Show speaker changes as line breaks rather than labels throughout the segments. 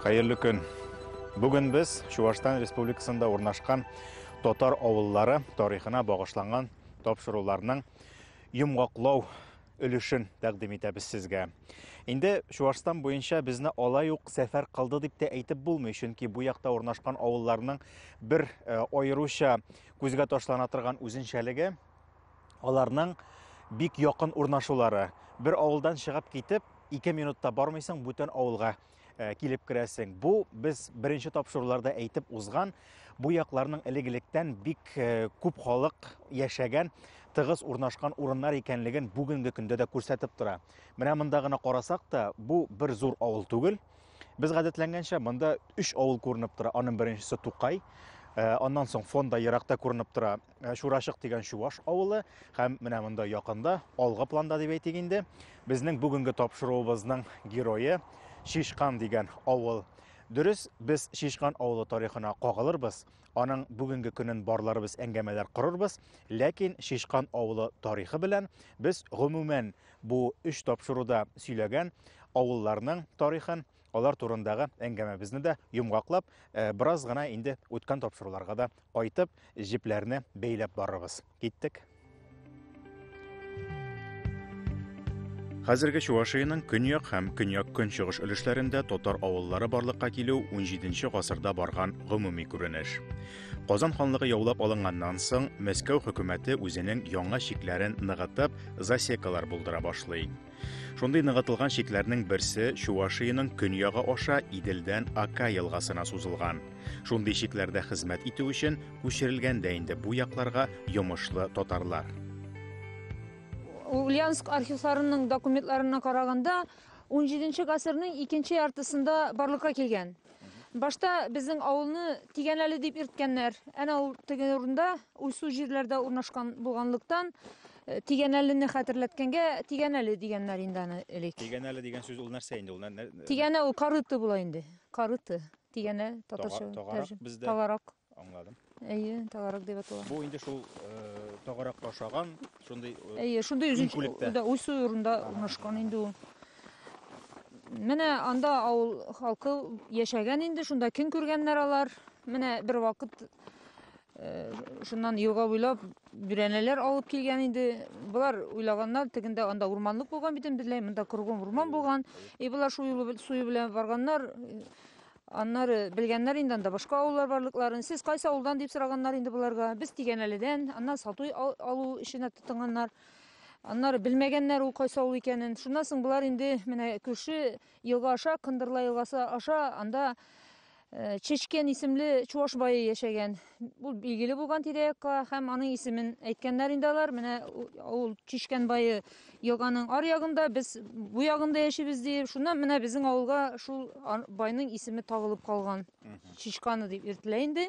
Хәерле көн. Бүген без Чувашстан Республикасында урнашкан татар авыллары тарихына багышланган тапшыруларның йомгаклау өлешен тәкъдим итәбез сезгә. Инде Чуашстан буенча безне алай ук сәфәр кылды дип тә әйтеп булмый, чөнки бу якта урнашкан авылларның бер э, аеруча күзгә ташлана торган үзенчәлеге аларның бик якын урнашулары. Бер авылдан чыгып китеп, ике минутта бармыйсың бүтән авылга э, килеп керәсең. Бу без беренче тапшыруларда әйтеп узган бу якларның элек-электән бик э, күп халык яшәгән, тыгыз урнашкан урыннар икәнлеген бүгенге көндә дә күрсәтеп тора. Менә монда гына карасак та, бу бер зур авыл түгел. Без гадәтләнгәнчә монда 3 авыл күренеп тора. Аның беренчесе Тукай, э, аннан соң фонда еракта күренеп тора Ә, Чурашык дигән чуваш авылы һәм менә монда якында, алгы планда дип әйтик инде, безнең бүгенге тапшыруыбызның герое Шишкан дигән авыл. Дөрес, без Шишкан авылы тарихына кагылырбыз, аның бүгенге көнен барларыбыз әңгәмәләр корырбыз, ләкин Шишкан авылы тарихы белән без гомумән бу өч тапшыруда сөйләгән авылларның тарихын Алар турындагы әңгәмәбезне дә йомгаклап, э, бераз гына инде үткән тапшыруларга да кайтып, җепләрне бәйләп барырбыз. Киттек. Хәзерге Чувашиянең көньяк һәм көньяк-көнчыгыш өлешләрендә татар авыллары барлыкка килү 17 гасырда барган гомуми күренеш. Казан ханлыгы яулап алынганнан соң, Мәскәү хөкүмәте үзенең яңа чикләрен ныгытып, засекалар булдыра башлый. Шундый ныгытылган чикләрнең берсе Чувашиянең көньягы аша Иделдән Ака елгасына сузылган. Шундый чикләрдә хезмәт итү өчен күчерелгән дә инде бу якларга йомышлы татарлар.
Ульяновск архивларының документларына караганда, 17 гасырның икенче яртысында барлыкка килгән. Башта безнең авылны Тигәнәле дип йөрткәннәр. Әнә ул теге урында, уйсу җирләрдә урнашкан булганлыктан, Э, Тигәнәлене хәтерләткәнгә Тигәнәле дигәннәр инде аны элек. Тигәнәле дигән сүз ул нәрсә
инде? Ул нәр- Тигәнә ул карыты
була инде. Карыты. Тигәнә татарча. Тага- тагарак тәрҗем- бездә. Тагарак. Аңладым.
Әйе, тагарак
дип атала. Бу инде шул
э, тагарак ашаган, шундый э, Әйе, шундый үзенчә
Күлектә. да уйсу урында урнашкан инде ул. Менә анда авыл халкы яшәгән инде, шунда көн күргәннәр алар. Менә бер вакыт Э, шуннан елга буйлап бүрәнәләр алып килгән инде болар уйлаганнар тегендә анда урманлык булган бит инде бөтенләй монда кругом урман булган и болар шул юлы суе белән барганнар аннары белгәннәр инде анда башка авыллар барлыкларын сез кайсы авылдан дип сораганнар инде боларга без тигәнәледән аннан сату алу эшенә тотынганнар аннары белмәгәннәр ул кайсы авыл икәнен шуннан соң болар инде менә күрше елга аша кындырла елгасы аша анда Э, Чечкен исемле чуваш бае яшәгән. Бу билгеле булган тирә-якка һәм аның исемен әйткәннәр инде алар. Менә ул Чечкен бае елганың ар ягында, без бу ягында яшибез дип, шуннан менә безнең авылга шул байның исеме табылып калган. Чечканы дип йөртелә инде.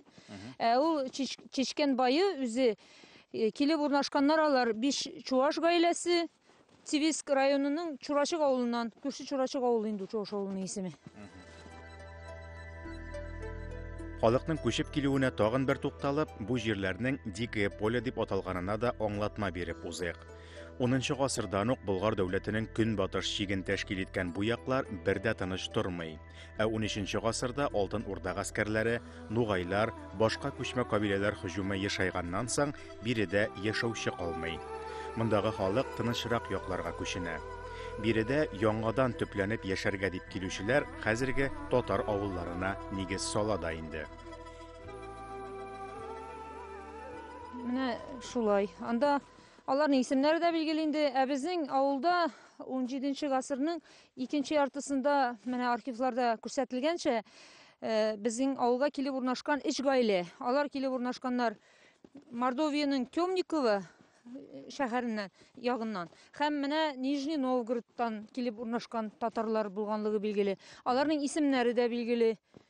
Ә ул Чечкен бае үзе Э, килеп урнашканнар алар биш чуваш гаиләсе Тивиск районының Чурачык авылыннан, күрше Чурачык авылы инде Чуаш авылының исеме.
Халыкның күчеп килүенә тагын бер тукталып, бу җирләрнең Дикое поле дип аталганына да аңлатма биреп узыйк. 10 гасырдан ук Болгар дәүләтенең көнбатыш чиген тәшкил иткән бу яклар бер дә тыныч тормый. Ә 13-нче гасырда Алтын Урда гаскәрләре, нугайлар, башка күчмә кабиләләр һөҗүме ешайганнан соң, биредә яшәүче калмый. Мондагы халык тынычрак якларга күченә. Биредә яңадан төпләнеп яшәргә дип килүчеләр хәзерге татар авылларына нигез сала да инде.
Менә шулай. Анда аларның исемнәре дә билгеле инде. Ә безнең авылда 17 нче гасырның Икенче яртысында менә архивларда күрсәтелгәнчә, безнең авылга килеп урнашкан өч гаилә. Алар килеп урнашканнар Мордовиянең Темниково шәһәреннән ягыннан һәм менә Нижний Новгородтан килеп урнашкан татарлар булганлыгы билгеле. Аларның исемнәре дә билгеле.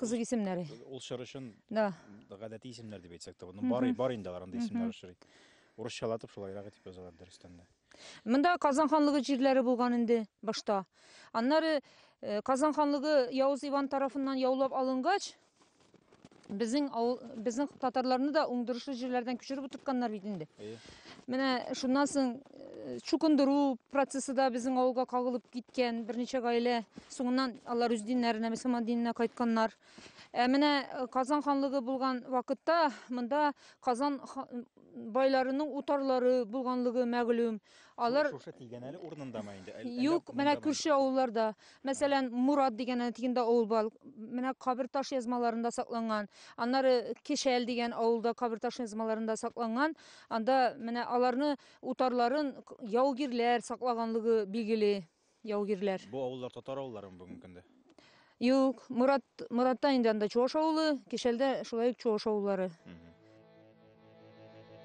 Кызык исемнәре. Ул чор өчен
Да. гадәти
исемнәр
дип әйтсәк тә, ну бар, бар инде алар анда исемнәр очрый. Урысчалатып шулайрак итеп язалар дөрестән дә.
Монда Казан ханлыгы җирләре булган инде башта. Аннары э, Казан ханлыгы Явыз Иван тарафыннан яулап алынгач, безнең авыл, безнең татарларны да уңдырышлы җирләрдән күчереп утыртканнар бит инде. Әйе. Менә шуннан соң чукындыру процессы да безнең авылга кагылып киткән берничә гаилә соңыннан алар үз диннәренә мөселман диненә кайтканнар ә менә э, казан ханлыгы булган вакытта монда казан байларының утарлары булганлыгы мәгълүм алар шушы тигәнәле
урынындамы инде юк менә күрше
авылларда мәсәлән мурат дигән тигендә авыл бар менә кабер таш язмаларында сакланган аннары кешәл дигән авылда кабер таш язмаларында сакланган Анда менә аларны утарларын яугирләр саклаганлыгы билгеле, яугирләр. Бу авыллар татар
авылларымы бүгенге көндә? Юк,
Мурат, Муратта инде анда Чуаш авылы, Кишәлдә шулай ук Чуаш авыллары.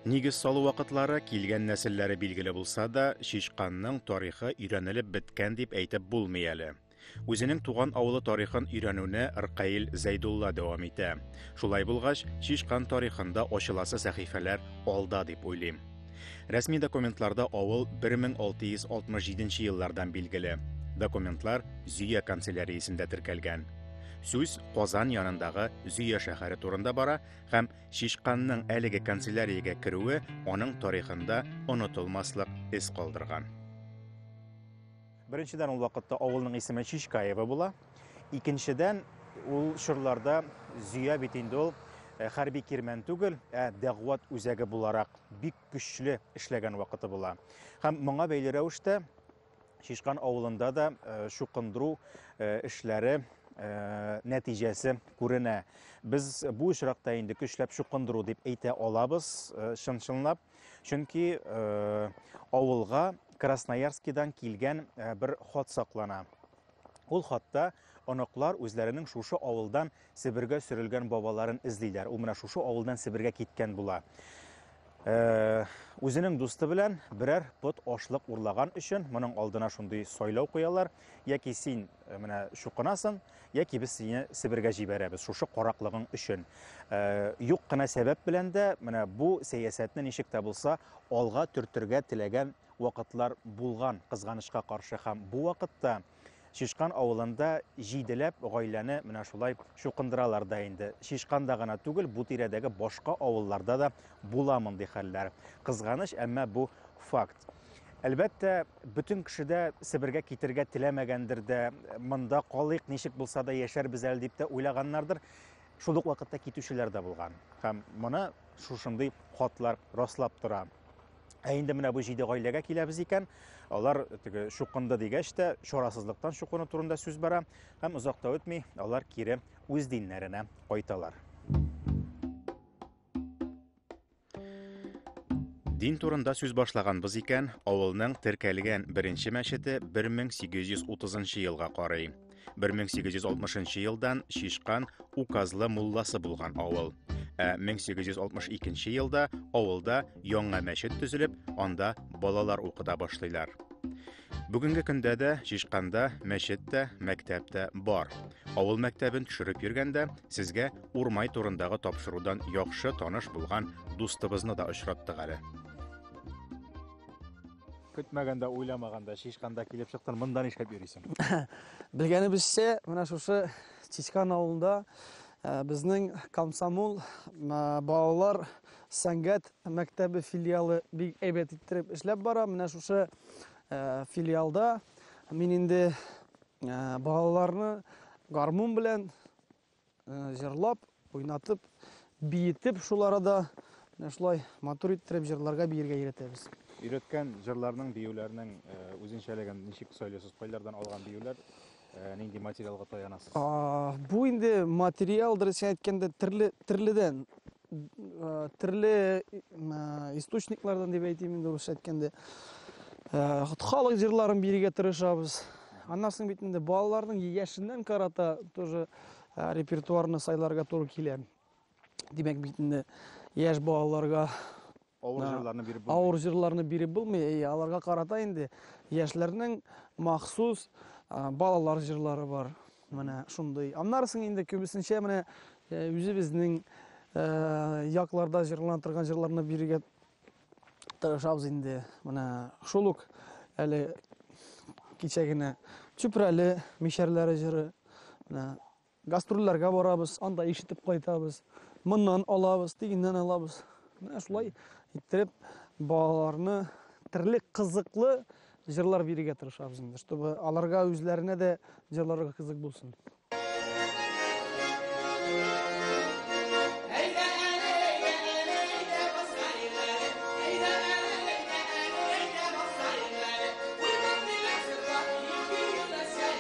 Нигез салу вакытлары килгән нәселләре билгеле булса да, Чичканның тарихы өйрәнелеп беткән дип әйтеп булмый әле. Үзенең туган авылы тарихын өйрәнүне Ркаил Зәйдулла дәвам итә. Шулай булгач, Чишкан тарихында ачыласы сәхифәләр алда дип уйлыйм. Рәсми документларда авыл 1667 еллардан билгеле. Документлар Зөя канцеляриясендә теркәлгән. Сүз Казан янындагы Зөя шәһәре турында бара һәм Чишканның әлеге канцеляриягә керүе аның тарихында онытылмаслык эз калдырган. Беренчедән, ул вакытта авылның исеме Чичкаево була. Икенчедән, ул чорларда Зөя бит инде ул э, хәрби кирмән түгел, ә дәгъват үзәге буларак бик көчле эшләгән вакыты була. Һәм моңа бәйле рәвештә Чишкан авылында да э, шукындыру э, эшләре Э, нәтиҗәсе күренә. Без бу очракта инде көчләп чукындыру дип әйтә алабыз, э, чын-чынлап. Чөнки авылга Красноярскидан килгән бер хат саклана. Ул хатта оныклар үзләренең шушы авылдан Себергә сөрелгән бабаларын эзлиләр. Ул менә шушы авылдан Себергә киткән була. Э, үзенең дусты белән берәр пот ашлык урлаган өчен моның алдына шундый сайлау куялар. яки син э, менә чукынасың, яки без сине Себергә җибәрәбез шушы караклыгың өчен. Э, юк кына сәбәп белән дә менә бу сәясәтне ничек тә булса алга төртергә теләгән вакытлар булган, кызганычка каршы һәм бу вакытта Шишкан авылында җиделәп гаиләне менә шулай чукындыралар да инде. Шишканда гына түгел, бу тирәдәге башка авылларда да була мондый хәлләр. Кызганыч, әмма бу факт. Әлбәттә, бөтен кеше дә Себергә китергә теләмәгәндер дә, монда калыйк, ничек булса да яшәрбез әле дип тә уйлаганнардыр. Шул ук вакытта китүчеләр дә булган. Һәм моны шушындый хатлар раслап тора. Ә инде менә бу җиде гаиләгә киләбез икән, алар теге чукынды дигәч тә, чарасызлыктан чукыну турында сүз бара, һәм озак та үтми, алар кире үз диннәренә кайталар. Дин турында сүз башлаганбыз икән, авылның теркәлгән беренче мәчете 1830 елга карый. 1860 елдан Шишкан указлы мулласы булган авыл. Ә 1862 елда авылда яңа мәчет төзелеп, анда балалар укыта башлыйлар. Бүгенге көндә дә Чишканда мәчет тә, мәктәп тә бар. Авыл мәктәбен төшереп йөргәндә сезгә Урмай турындагы тапшырудан яхшы таныш булган дустыбызны да очраттык әле. Көтмәгәндә, уйламаганда Чишканда килеп чыктын, монда нишләп йөрисең? Белгәнебезчә,
менә шушы Чишкан авылында безнең комсомол балалар Сәнгать мәктәбе филиалы бик әйбәт иттереп эшләп бара. Менә шушы филиалда мин инде балаларны гармун белән җырлап, уйнатып, биетеп шул арада менә шулай матур иттереп җырларга биергә өйрәтәбез. Өйрәткән
җырларның, биюләрнең үзенчәлеген ничек сайлыйсыз? Кайлардан алган биюләр? Э, нинди материалга таянасыз? Бу инде
материал, дөресен әйткәндә, төрле төрледән Төрле источниклардан дип әйтим инде русча әйткәндә. Халык җырларын бирергә тырышабыз. Аннан соң бит инде балаларның яшеннән карата тоже репертуарны сайларга туры килә. Димәк бит инде яшь балаларга Авыр җырларны биреп булмый. Авыр җырларны биреп булмый. Әйе, аларга карата инде яшьләрнең махсус балалар җырлары бар. Менә шундый. Аннарысын инде күбесенчә менә э, үзебезнең э, якларда җырлана торган җырларны бирергә тырышабыз инде. Менә шул ук әле кичә генә Чүпрәле мишәрләре җыры. Менә Гастрольләргә барабыз, анда ишетеп кайтабыз. Моннан алабыз, тигеннән алабыз. Менә шулай иттереп балаларны төрле кызыклы җырлар бирергә тырышабыз инде, чтобы аларга үзләренә дә җырларга кызык булсын.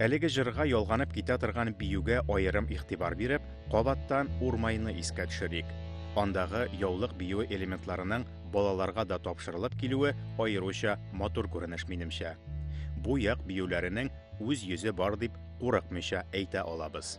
Әлеге җырга ялганып китә торган биюгә аерым игътибар биреп, кабаттан Урмайны искә төшерик. Андагы яулык биюе элементларының балаларга да тапшырылып килүе аеруча матур күренеш минемчә. Бу як биюләренең үз йөзе бар дип курыкмыйча әйтә алабыз.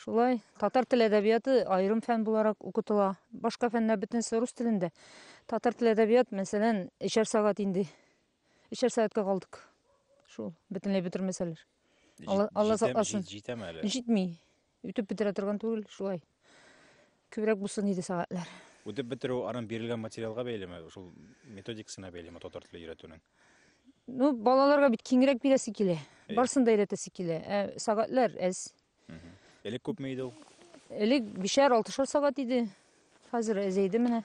Шулай, татар теле әдәбияты аерым фән буларак укытыла. Башка фәннәр бөтенесе рус телендә. Татар теле әдәбият, мәсәлән, эчәр сәгать инде. Эчәр сәгатькә калдык. Шул, бөтенләй бетермәсәләр. Алла, Алла сакласын. Җитәме әле? Җитми.
Үтеп
бетерә торган түгел, шулай. Күбрәк булсын иде сәгатьләр. Үтеп бетерү анын
бирелгән материалга бәйлеме, шул методикасына бәйлеме татар теле өйрәтүнең? Ну,
балаларга бит киңрәк бирәсе килә. Э. Барсын да өйрәтәсе килә. Ә сәгатьләр әз. Элек күпме
иде ул? Элек бишәр,
алтышар сәгать иде. Хәзер әзәйде менә.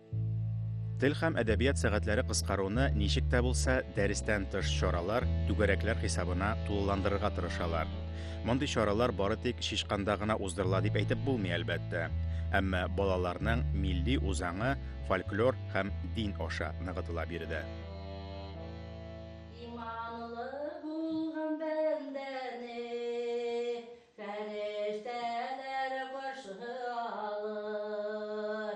Тел
һәм әдәбият сәгатьләре кыскаруны ничек тә булса дәрестән тыш чаралар, түгәрәкләр хисабына тулыландырырга тырышалар. Мондый чаралар бары тик Чичканда гына уздырыла дип әйтеп булмый, әлбәттә. Әмма балаларның милли үзаңы фольклор һәм дин аша ныгытыла биредә. Иманлы булган бәндәне фәрештәләр каршы алыр.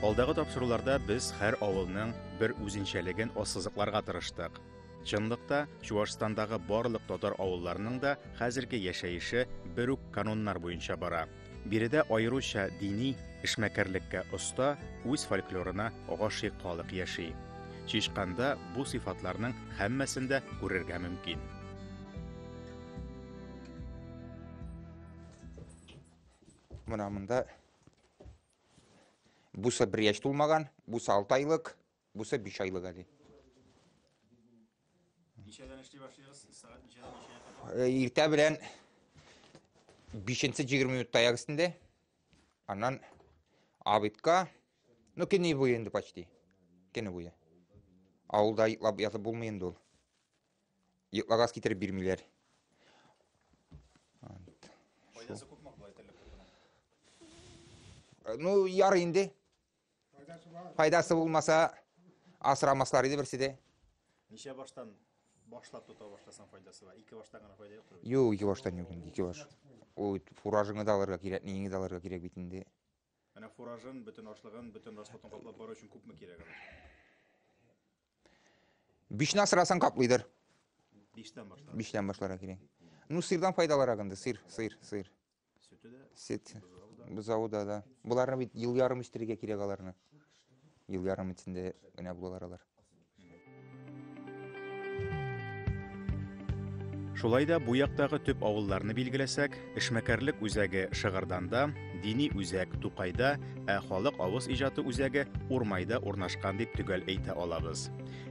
Алдагы тапшыруларда без һәр авылның бер үзенчәлеген ассызыкларга тырыштык. Чынлыкта, Чуашстандагы барлык татар авылларының да хәзерге яшәеше бер үк кануннар буенча бара. Биредә аеруча дини эшмәкәрлеккә оста, үз фольклорына гашыйк халык яши. Чишканда бу сыйфатларның һәммәсен дә күрергә мөмкин.
Менә монда бусы бер яшь тулмаган, бусы 6 айлык, бусы 5 айлык әле.
Ничәдән эшли башлыйгыз?
Сәгать ничәдән ничә? Иртә белән 5-нче 20 минут таяк өстендә. Аннан абитка, ну кене буе инде почти. Кене буе. Авылда йоклап ятып булмый инде ул. Йокла газ китереп бирмиләр. Файдасы
күпме болай терлек кортының?
Ну, яр инде. Файдасы булмаса, асрамаслар иде берсе дә. Ничә баштан
башлап тота башласаң файдасы бар? Ике баштан гына файда юктыр. Юк, ике баштан юк инде,
ике баш. Ул фуражыңны да алырга кирәк, неңне дә алырга кирәк бит инде. Менә фуражын,
бөтен ашлыгын, бөтен расходын каплап бару өчен күпме кирәк ала?
Бишне асырасаң каплыйдыр. Биштән
башлар. Биштән башлар кирәк.
Ну, сыйрдан файдалырак инде, сыйр, сыйр, сыйр.
Сөте дә. Сөт.
Бозавы да, да. Боларны бит ел ярым үстерергә кирәк аларны. Ел ярым эчендә генә булалар алар.
Шулай да бу яктагы төп авылларны билгеләсәк, Эшмәкәрлек үзәге Шыгырданда, дини үзәк Тукайда, ә халык авыз иҗаты үзәге Урмайда урнашкан дип төгәл әйтә алабыз.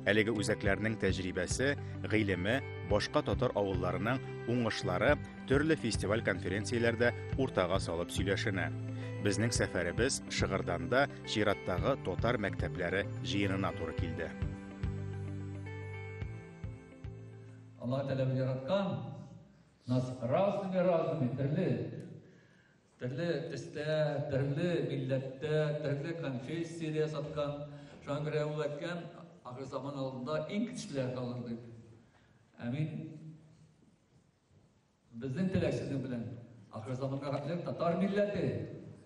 Әлеге үзәкләрнең тәҗрибәсе, гыйлеме, башка татар авылларының уңышлары төрле фестиваль-конференцияләрдә уртага салып сөйләшенә. Безнең сәфәребез Шыгырданда чираттагы татар мәктәпләре җыенына туры килде.
Аллаһ Тәгалә яраткан Нас разными разными, төрле, төрле төстә, төрле милләттә, төрле конфессиядә саткан. Шуңа күрә ул әйткән, ахыр заман алдында иң көчлеләр калыр дип. Ә мин безнең теләк сезнең белән ахыр заманга хәтле татар милләте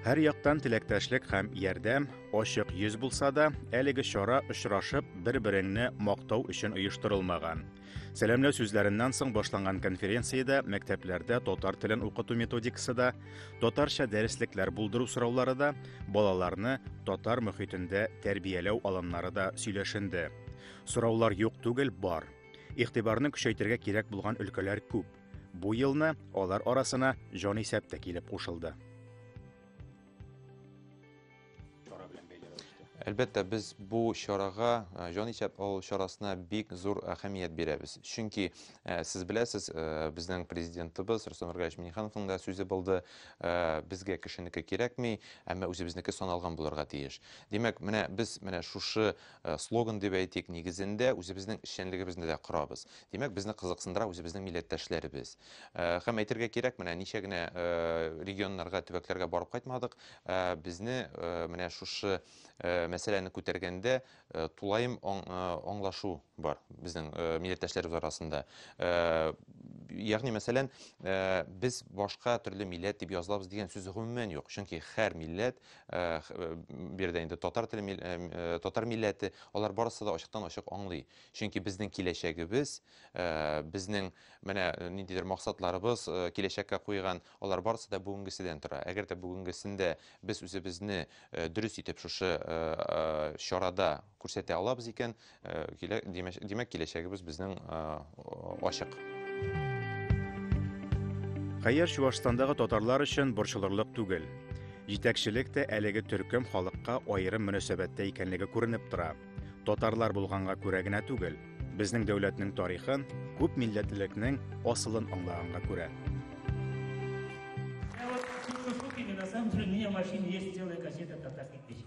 Һәр яктан теләктәшлек һәм ярдәм, ачык йөз булса да, әлеге чара очрашып, бер-береңне мактау өчен оештырылмаган. Сәламләү сүзләреннән соң башланган конференциядә мәктәпләрдә татар телен укыту методикасы да, татарча дәреслекләр булдыру сораулары да, балаларны татар мөхитендә тәрбияләү алымнары да сөйләшенде. Сораулар юк түгел, бар. Игътибарны көчәйтергә кирәк булган өлкәләр күп. Бу елны алар арасына җанисәп тә килеп кушылды.
Әлбәттә, без бу чарага, э, җан исәп алу чарасына бик зур әһәмият бирәбез. Чөнки э, сез беләсез, э, безнең президентыбыз Рустам Ргаевич Минихановның да сүзе булды, безгә кешенеке кирәкми, әмма үзебезнеке саналган булырга тиеш. Димәк, менә без менә шушы слоган дип әйтик, нигезендә үзебезнең эшчәнлегебезне дә корабыз. Димәк, безне кызыксындыра үзебезнең милләттәшләребез. Һәм әйтергә кирәк, менә ничә генә регионнарга, төбәкләргә барып кайтмадык, безне менә шушы мәсьәләне күтәргәндә тулаем аңлашу бар безнең милләттәшләребез арасында. Ягъни, мәсәлән, без башка төрле милләт дип язылабыз дигән сүз гомумән юк, чөнки һәр милләт Э, э, бу жердә инде татар теле э, татар милләте алар барысы да ачыктан ачык аңлый чөнки безнең киләчәгебез безнең менә ниндидер максатларыбыз киләчәккә куйган алар барысы да бүгенгеседән тора әгәр дә бүгенгесендә без үзебезне дөрес итеп шушы чарада Күрсәтә алабыз икән, димәк, киләчәгебез безнең ачык.
Хәер, Чуашстандагы татарлар өчен борчылырлык түгел. Җитәкчелек тә әлеге төркем халыкка аерым мөнәсәбәттә икәнлеге күренеп тора. Татарлар булганга күрә генә түгел, безнең дәүләтнең тарихын, күп милләтлелекнең асылын аңлаганга күрә. Ә вот Чукчуки,
на самом деле, у меня в машине есть целая кассета татарских песен.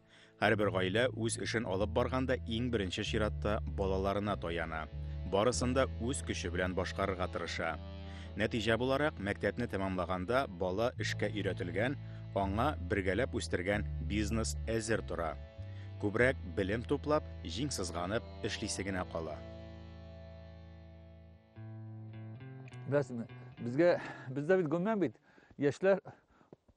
Һәрбер гаилә үз эшен алып барганда иң беренче чиратта балаларына таяна. Барысын да үз көче белән башкарырга тырыша. Нәтиҗә буларак, мәктәпне тәмамлаганда бала эшкә өйрәтелгән, аңа бергәләп үстергән бизнес әзер тора. Күбрәк белем туплап, җиң сызганып эшлисе генә кала.
Беләсезме, безгә бездә бит гомумән бит яшьләр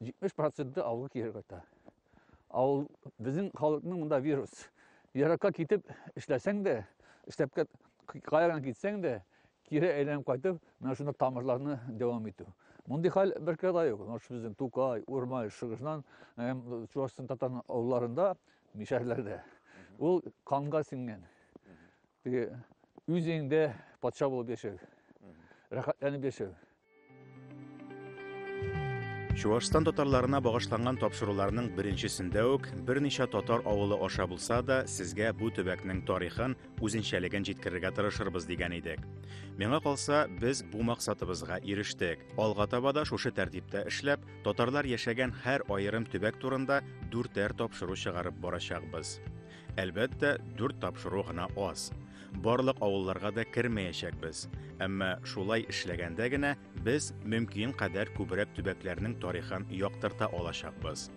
70 проценты авылга кире кайта. Авыл безнең халыкның монда вирус. Еракка китеп эшләсәң дә, эшләп каяган китсәң дә, кире әйләнеп кайтып, менә шунда тамырларны дәвам итү. Мондый хәл бер кадә юк. Наш безнең Тукай, Урмай, Шыгышнан, Чувашстан татар авылларында, мишәрләрдә. Ул канга сиңгән. Теге үз өеңдә патша булып яшәү, рәхәтләнеп яшәү.
Чуашстан татарларына багышланган тапшыруларның беренчесендә үк берничә татар авылы аша булса да, сезгә бу төбәкнең тарихын, үзенчәлеген җиткерергә тырышырбыз дигән идек. Миңа калса, без бу максатыбызга ирештек. Алга таба да шушы тәртиптә эшләп, татарлар яшәгән һәр аерым төбәк турында дүртәр тапшыру чыгарып барачакбыз. Әлбәттә, дүрт тапшыру гына аз. Барлык авылларга да кермәячәкбез. Әмма шулай эшләгәндә генә без мөмкин кадәр күбрәк төбәкләрнең тарихын яктырта алачакбыз.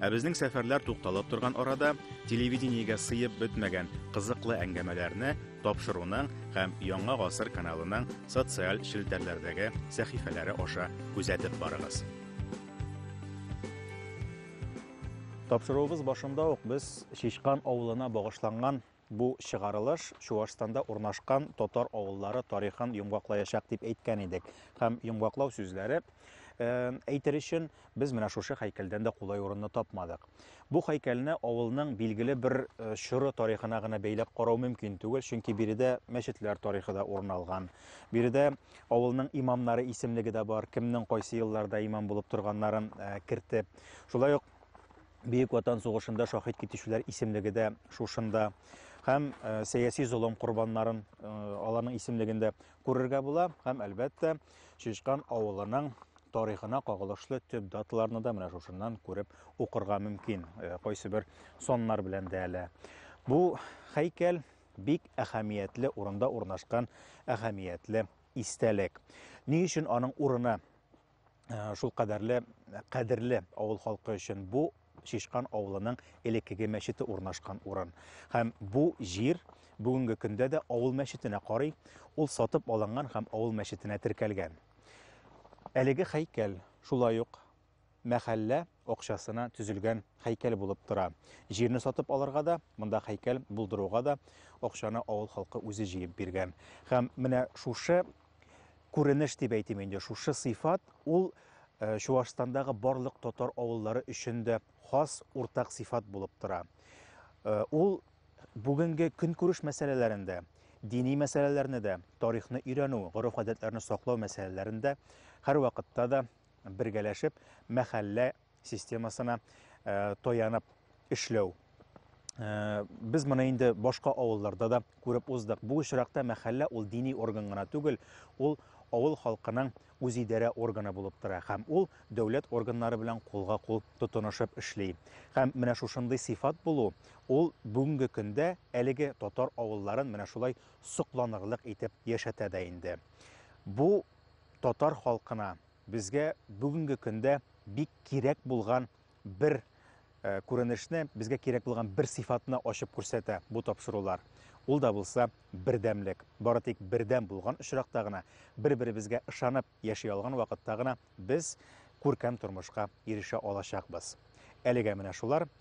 Ә безнең сәфәрләр тукталып торган арада телевидениегә сыеп бетмәгән кызыклы әңгәмәләрне тапшыруның һәм Яңа гасыр каналының социаль челтәрләрдәге сәхифәләре аша күзәтеп барыгыз. Тапшыруыбыз башында ук без Шишкан авылына багышланган бу чыгарылыш Чуашстанда урнашкан татар авыллары тарихын йомгаклаячак дип әйткән идек. Һәм йомгаклау сүзләре э, әйтер өчен без менә шушы һәйкәлдән дә кулай урынны тапмадык. Бу һәйкәлне авылның билгеле бер э, чоры тарихына гына бәйләп карау мөмкин түгел, чөнки биредә мәчетләр тарихы да урын алган. Биредә авылның имамнары исемлеге дә бар, кемнең кайсы елларда имам булып торганнарын э, кертеп Шулай ук Бөек Ватан сугышында шахид китүчеләр исемлеге дә шушында һәм э, сәяси золым корбаннарын э, аларның исемлегендә күрергә була һәм әлбәттә Чишкан авылының тарихына кагылышлы төп даталарны да менә шушыннан күреп укырга мөмкин. Э, кайсы бер соннар белән дә әле. Бу һәйкәл бик әһәмиятле урында урнашкан әһәмиятле истәлек. Ни өчен аның урыны Э, шул кадәрле кадерле авыл халкы өчен бу Шишкан авылының элеккеге мәчете урнашкан урын. Һәм бу җир бүгенге көндә дә авыл мәчетенә карый, ул сатып алынган һәм авыл мәчетенә теркәлгән. Әлеге хәйкәл шулай ук мәхәллә акчасына төзелгән хәйкәл булып тора. Җирне сатып алырга да, монда хәйкәл булдыруга да акчаны авыл халкы үзе җыеп биргән. Һәм менә шушы күренеш дип әйтим инде. Шушы сыйфат ул э, Чуашстандагы барлык татар авыллары өчен дә хас уртак сыйфат булып тора. Э, ул бүгенге көнкүреш мәсьәләләрендә, дини мәсьәләләрне дә, тарихны өйрәнү, гореф-гадәтләрне саклау мәсьәләләрендә һәрвакытта да бергәләшеп мәхәллә системасына э, таянып эшләү э, без моны инде башка авылларда да күреп уздык бу очракта мәхәллә ул дини орган гына түгел ул авыл халкының үзидарә органы булып тора һәм ул дәүләт органнары белән кулга кул тотынышып эшли һәм менә шушындый сыйфат булу ул бүгенге көндә әлеге татар авылларын менә шулай сокланырлык итеп яшәтә дә инде бу татар халкына безгә бүгенге көндә бик кирәк булган бер э, күренешне, безгә кирәк булган бер сыйфатны ачып күрсәтә бу тапшырулар. Ул да булса бердәмлек. Бары тик бердәм булган очракта гына, бер-беребезгә ышанып яши алган вакытта гына без күркәм тормышка ирешә алачакбыз. Әлегә менә шулар